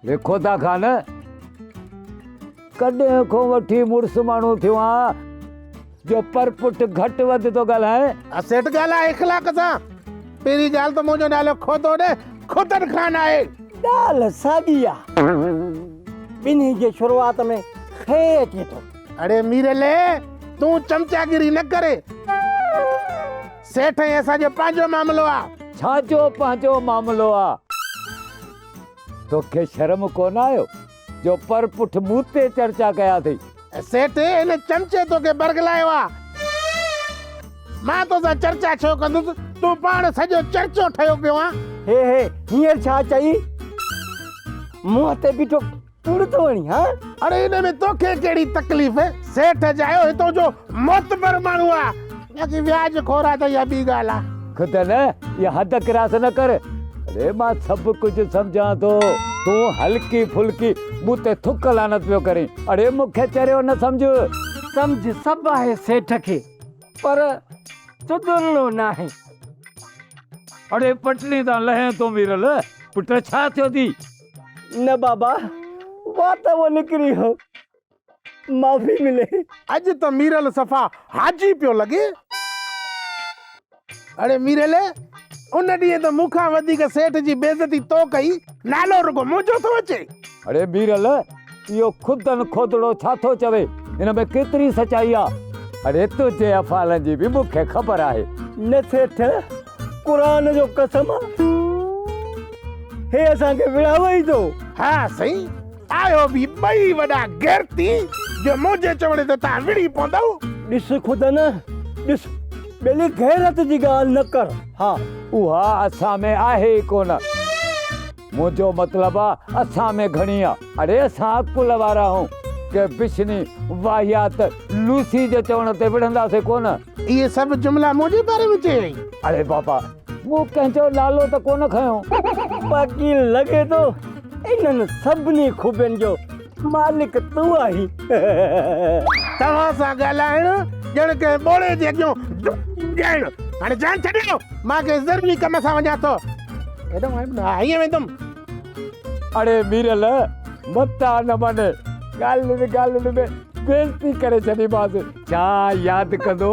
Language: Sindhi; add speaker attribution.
Speaker 1: لکو ٿا کان نه ڪڏهن کان وٺي مڙس ماڻهو ٿيو آهان جو پر پٽ گهٽ وڌ ٿو ڳالهائين اسيٽ ڳالهاء اخلاق
Speaker 2: سان پهرين ڳالهه ته منهنجو نالو کوتو نه کوتن خان آهي ڳالهه
Speaker 3: ساڳي آهي ٻنهي جي شروعات ۾ خي اچي ٿو اڙي ميرلي
Speaker 2: تون چمچاگيري نه ڪري سيٺ ائين اسان جو پنهنجو معاملو آ. ڇا جو پنهنجو
Speaker 1: معاملو آ. توکي شرم ڪونه آيو جو پر پٺ مون تي چرچا ڪيا اٿئي. سيٺ هن
Speaker 2: چمچي توکي برغلايو آ. مان تو سان چرچا ڇو ڪندس تون پاڻ سڄو چرچو ٺهيو پيو آ. هي هي هينئر
Speaker 3: ڇا چئي. منهن تي بيٺو تڙ ٿو هڻين ها؟ اڙي ان ۾ توکي
Speaker 2: ڪهڙي تڪليف؟ سيٺ جايو هتو جو معتبر ماڻهو آ باقي وياج خور آ ته اها ٻي ڳالهه آ. خدا نه اها
Speaker 1: حد ڪراس نه ڪر. اڙي مان سڀ ڪجهه سمجهان ٿو تون هلڪي ڦلڪي مون تي ٿڪ لعنت پيو ڪرين اڙي مون کي چريو نه سمجهه. سمجهه
Speaker 3: سڀ آهي سيٺ کي پر چدرڙو ناهي.
Speaker 1: اڙي پٽڙي تان لهين ٿو ميرل پٽ ڇا ٿيو ٿي. نه بابا
Speaker 3: وات اهو نڪري هو معافي ملي. اڄ ته ميرل
Speaker 2: صفا حاجي پيو لڳي. اڙي ميرل ان ڏينهن ته مون کان وڌيڪ سيٺ جي بيعزتي تو ڪئي نالو رڳو منهنجو ٿو اچي. اڙي ميرل.
Speaker 1: اهو خودن کوتڙو ڇا ٿو چوي؟ ان ۾ ڪيتري سچائي آ؟ اڙي تنهنجي افعالن جي به مون کي خبر آهي. نه سيٺ،
Speaker 3: قرآن جو قسم آ، هي اسان کي وڙهاوي ئي ٿو. ها سائين،
Speaker 2: آهيو به ٻئي وڏا غيرتي، جو منهنجي چوڻي تي توهان وڙهي پوندؤ. ڏس خودن،
Speaker 3: ڏس، ٻيلي غيرت جي ڳالهه نه ڪر. ها، اها اسان
Speaker 1: ۾ آهي ئي ڪونه. منهنجو مطلب آ اسان ۾ گهڻي آ. اڙي اسان عقل وارا آهون ڪي بشني واهيات لوسي جي چوڻ تي وڙهنداسين ڪونه. اهي سڀ جملا
Speaker 2: منهنجي باري ۾ چيائين. اڙي بابا
Speaker 1: مون ڪنهن جو نالو ته ڪونه کنيو. باقي
Speaker 3: لڳي ٿو انهن سڀني خوبين جو مالڪ تون آهين
Speaker 2: توهان سان ڳالهائڻ ڄڻ ڪنهن ٻوڙي جي اڳيون ڳائڻ هاڻي جان ڇڏيو مان ڪنهن ضروري ڪم سان وڃان ٿو ايڏو هاڻي نه آئين ويندم اڙي ميرل
Speaker 1: متا نه من ڳالهين ڳالهين ۾ بيزتي ڪري ڇڏيمانس ڇا ياد ڪندو